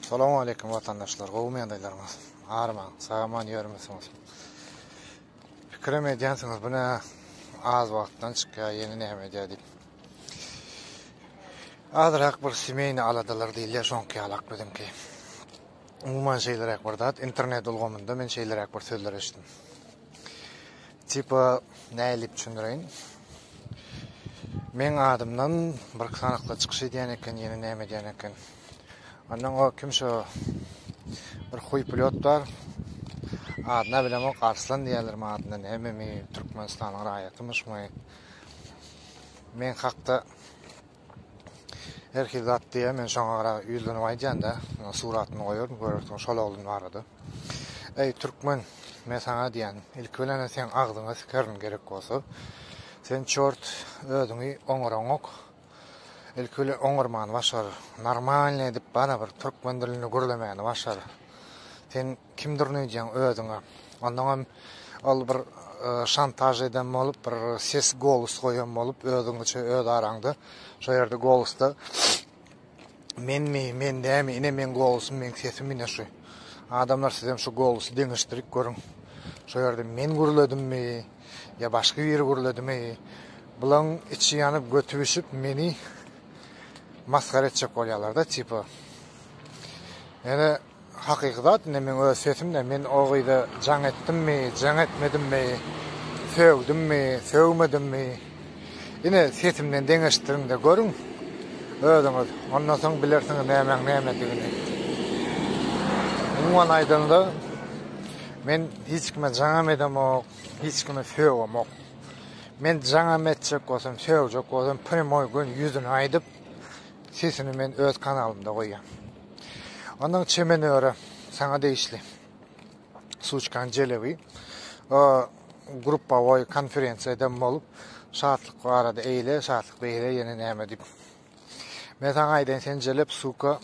Salam aleyküm vatandaşlar, gowy meýandaýlaryňyz. Arman, sagaman ýörmüsiňiz. Pikirim edýänsiňiz, bu ne az wagtdan çykýar, ýene näme edýär diýip. Azyrak bir semeyni aladalar diýilýär, şoňky ýalak biziňki. Umuman şeýleräk bir zat, internet ulgamynda men şeýleräk bir sözler eşitdim. Tipa nädip düşündireýin? Meň adymdan bir kanakda çykyş edýän eken, ýene näme edýän eken. Ondan o kim şo bir huý pilot bar. Adyna bilemok, Arslan diýerler mi adyna nämemi, Türkmenistanyň raýatymyşmy? Men hakda Her hil zat diýýär, men şoňa gara ýüzlenip aýdýan-da, suratyny goýaryn, görersiň şol oglan barada. Eý, türkmen, men saňa diýýän, ilki bilen-ä seň agzyňa sikerin gerek bolsa. Sen, çort, özüňi oňaraňok. Ilki bilen oňarmany başar, normalny edip barybir türkmen dilinde gürlemäni başar. Sen Kimdir öýdýäň özüňe. Ondaňam ol bir şantaž eden bolup, bir ses golos goýan bolup, özüňiçe öz araňda. Şo ýerde golosda menmi, men dämi, ine meň golosym, meň sesim ine şu. Adamlar sizem şu golosy deňeşdirip görüň. Şo ýerde men gürledimmi, ýa başga biri gürledimi? Bulaň içi ýanyp göti bişip meni masgara etjek bolýarlar-da, tipa. Ýöne Hakyky zat indi meň öz sesimde men o gyza jaň etdimmi jaň etmedimmi sögdimmi sögmedimmi ine sesimden deňeşdiriňde görüň özüňiz ondan soň bilersiňiz nämäň nämedigini umuman aýdanda men hiç kime jaňam edemok hiç kimi sögemok men jaňam etjek bolsam sögjek bolsam prýamoý gün ýüzüni aýdyp sesini men öz kanalymda goýýan. Ondan çemen öre sana degişli. Suçkan Celebi gruppawoý konferensiýada bolup, şatlyk barada eýle, şatlyk beýle ýene näme diýip. Men saňa aýdaýyn, sen Celep suka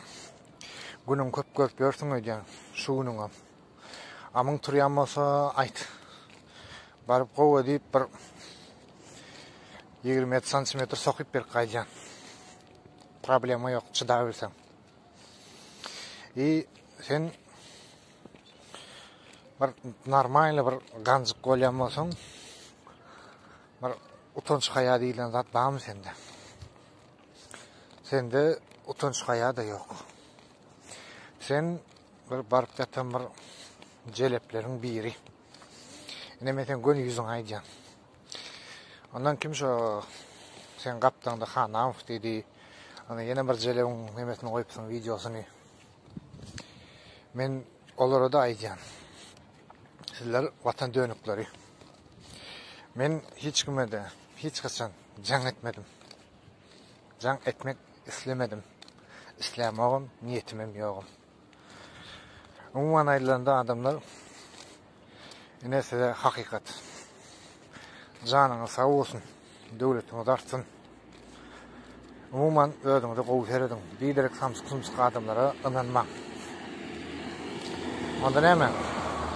günüň köp görüp ýörsüň öýdýän, şu günüňe. Amyň turýan bolsa aýt. Baryp gowa diýip bir 20 santimetr sokup berip gaýdýan. Problema ýok, çydabilseň. I sen bir normalny bir ganjyk bolýan bolsaň, bir utanç haýa diýlen zat barmy sende? Sende utanç haýa da ýok. Sen bir baryp ýatan bir jelepleriň biri. Ine men sen göni ýüzüňi aýdýan. Ondan kim şo sen gapdaňda Hanamow diýdi. Ana ýene bir jelewiň nemesini goýupsyň wideosyny. Men olara da aýdýan. Sizler watan dönükleri. Men hiç kime de hiç haçan jaň etmedim. Jaň etmek islemedim. Islämogum, niýetim hem ýogum. Umuman aýdylanda adamlar ine size hakykat. Janyňyz sag bolsun. Döwletiňiz artsyn. Umuman özüňize gowy serediň. Biderek samsyk-sumsyk adamlara ynanmaň. Onda näme?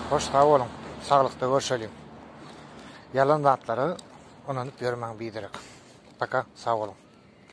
Hoş sag boluň. Saglykda görşeliň. Ýalan zatlara ynanyp ýörmäň biderek. Paka sag boluň.